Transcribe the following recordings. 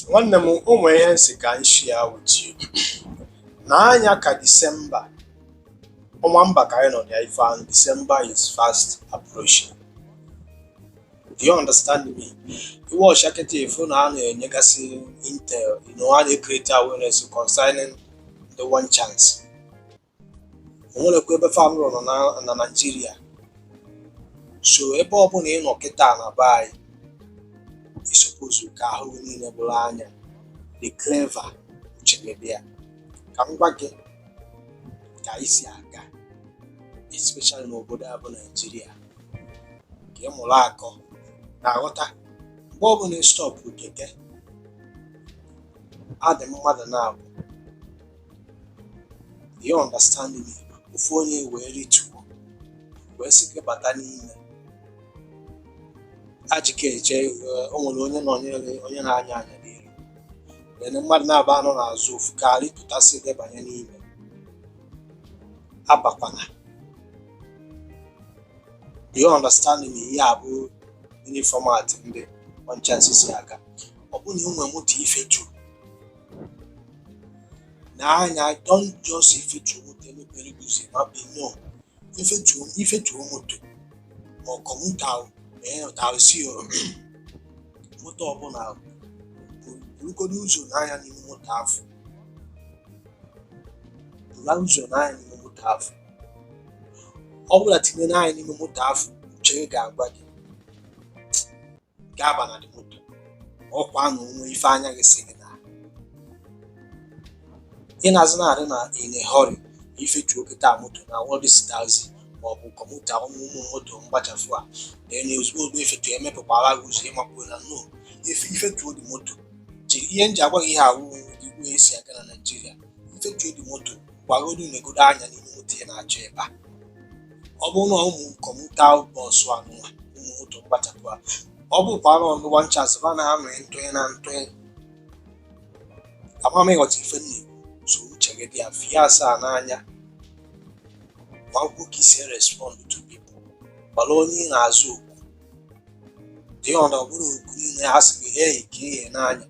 nwanne m o nwere ihe m sị ka m share with you na anya ka disemba ọnwa ember ka anyị nọ na ya ife ahụ disemba is fast approaching do you understand me i wee wọcha kịta ị fụ na a na-enyegasị intel you know, a na-ekreti awareness concerning the one chance o nwerọkwa ebe fa anọrọ na naijiria so ebe ọbụla ị nọ kịta na be anyị ị suppose ka ahụ gị niile bụrụ anya dị clever uche gị dị ya ka m gwa gị ka e si aga especially n'obodo a bụ naijiria ka ị mụrụ akọ na-aghọta mgbe ọbụla ị stọpụ keke a dị mmadụ naabọ you understand me ofu onye wee rituo wee sị gị bata n'ime ajike eche eh, o nwere onye nọ onye na-anya anya n'iru then mmadụ naabọ anọ n'azụ ofu ka rịtụta sị gị banye n'ime abakwana you understand me ihe a bụ the new format ndị one chance si aga ọ bụrụ na o nwere moto ị feturu n'anya don't just ị fetuo moto e mepere gị ụzọ ị bakpuo no ị fetuo moto ma ọ commuter or taxi moto ọbụla ahụ burugodo ụzọ nee anya n'ime moto afụ bulu ụzọ nee anya n'ime moto afụ ọ bụ na ị tinye anya n'ime moto afụ uche gị ga-agwa gị ga-aba na the moto ọkwa na o nwe ife anya gị sị gị na ị na-azụ na-adị na in a hurry ị fetuo kịtaa moto na-awụ this taxi ma ọ bụ commuter ụmụ moto mgbachafụ a na-enye ozugbo ozugbo ị fetuo e mepekwara gị ụzọ ị makpuo na no ị fetuo the moto ihe m ji agwa gị ihe a wụ the way e si aga na naijiria ị fetuo the moto gwagodo negodo anya n'ime moto ị na-achọ ịba ọ bụrụ na ụmụ commuter bus anụwa ụmụ moto mgbachapụ a ọ bụkwa na ụmụ one chance ba na-anọ ntụnye na ntụnye ama m ị ghọta ife nne so uche gị dị ya fie asọ n'anya makwuo ka i si respond to people mara onye ị na-aza okwu dị ọ na ọ bụrọ okwu niile a sị gị hey ka ị nee anya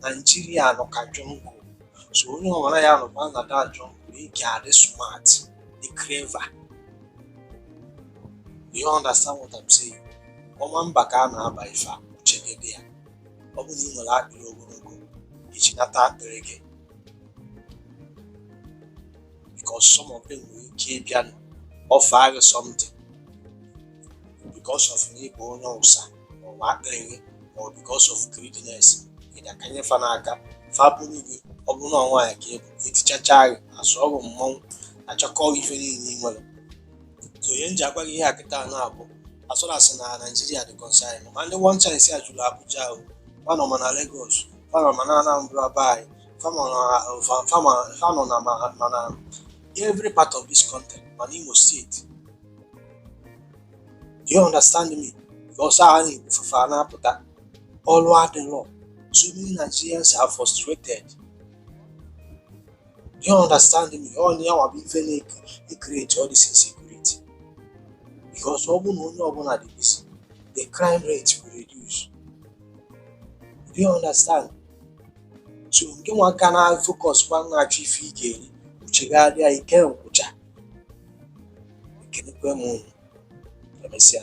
Nigeria nọ ka jungle so onye ọbụla ya nọkwa na that jungle ị ga-adị smart dị clever you understand what I'm saying ọnwa ember ka a na-aba ife a uche gị dị ya ọ bụrụ na ị nwere akpịrị ogologo ị chịnata akpịrị gị because some of them nwere ike ịbịa offer gị something because of na ị bụ onye ụsa ọwa aka enwe ma ọ because of greediness ị ga-akanye fa n'aka fa buru gị ọ bụrụ na nwaanyị ka ị bụ etichacha gị asụọ gị mma n'ahụ achịkọọ ife niile ị nwere so ihe m ji agwa gị ihe a kịta na-abụ as far as na nigeria dị concern ma ndị one chance a juru abuja ahụ fa nọ ma na lagos fa nọ ma na anambra be anyị fa nọ na- fa- fama- fa nọ na ma- ma na every part of this country ma na imo state Do you understand me? Because I need to find out that all what the law. So many Nigerians are frustrated. Do you understand me? All the hour be very create all this insecurity. Because all one only one at this, the crime rate will reduce. Do you understand? So nke nwa aka na focus kwa na-achọ ife ị ga-eri uche gị adịghị ike nkwụcha ekelekwa m unu emesịa